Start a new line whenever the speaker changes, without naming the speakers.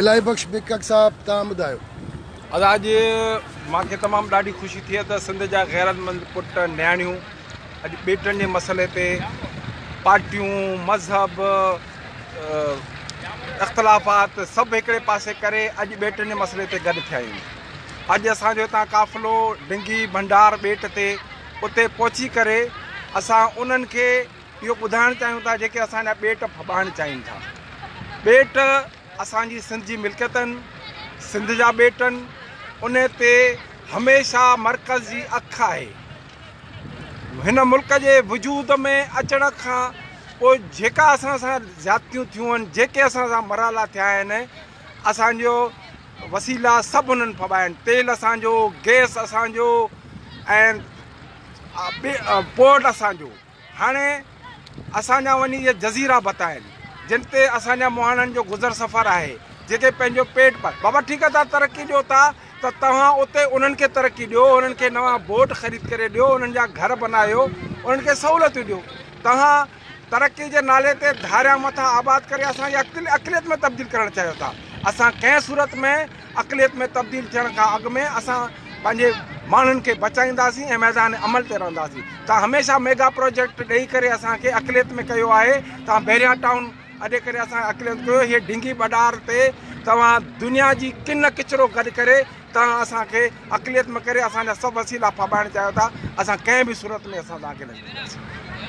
الاهي بخش بيڪڪ صاحب توهان ٻڌايو. ادا اڄ
مان کي تمام ڏاڍي خوشي ٿئي ته سنڌ جا غيرتمند پٽ نياڻيون اڄ ٻيٽن جي مسئلي تي پارٽيون مذهب اختلافات سڀ هڪڙي پاسي ڪري اڄ ٻيٽن جي مسئلي تي گڏ ٿيا آهيون اڄ اسان جو هتان قافلو ڊنگي ڀنڊار ٻيٽ تي اتي پهچي ڪري اسان انهن کي اهو ٻڌائڻ چاهيون ٿا جيڪي اسان جا ٻيٽ ڦٻائڻ چاهين ٿا. ٻيٽ اسان جي سنڌ جي ملڪيت آهن، سنڌ جا ٻيٽ آهن، ان تي هميشه مرڪز جي اک آهي. هن ملڪ جي وجود ۾ اچڻ کان پوء جيڪا اسان سان زيادتيون ٿيون آهن، جيڪي اسان سان مرالا ٿيا آهن، اسان جو وسيلا سڀ انهن ڦٻايا آهن. تيل اسان جو، گئس اسان جو ۽ پورٽ اسان جو. هاڻي اسان جا وڃي اهي جزيرا بت آهن جن تي اسان جا مهاڻن جو گذر سفر آهي جيڪي پنهنجو پيٽ پال بابا ٺيڪ آهي توهان ترقي ڏيو ٿا ته توهان اتي انهن کي ترقي ڏيو انهن کي نوان بوٽ خريد ڪري ڏيو انهن جا گهر بنايو انهن کي سهولتون ڏيو توهان ترقي جي نالي تي ڌاريان مٿان آباد ڪري اسان جي عقليت ۾ تبديل ڪرڻ چاهيو ٿا اسان ڪنهن صورت ۾ اقليت ۾ تبديل ٿيڻ کان اڳ ۾ اسان پنهنجي ماڻهن کي بچائينداسين ۽ ميدان عمل تي رهنداسين توهان هميشه ميگا پروجيڪٽ ڏئي ڪري اسان کي اقليت ۾ ڪيو آهي توهان بحريا ٽائون اڏي ڪري اسان اقليت ڪيو هي ڊنگي ٻڏار تي توهان دنيا جي ڪن ڪچرو گڏ ڪري توهان اسان کي اقليت ۾ ڪري اسان جا سڀ وسيلا ڦاٻائڻ چاهيو ٿا اسان ڪنهن به صورت ۾ اسان توهان کي نه ڇڏينداسين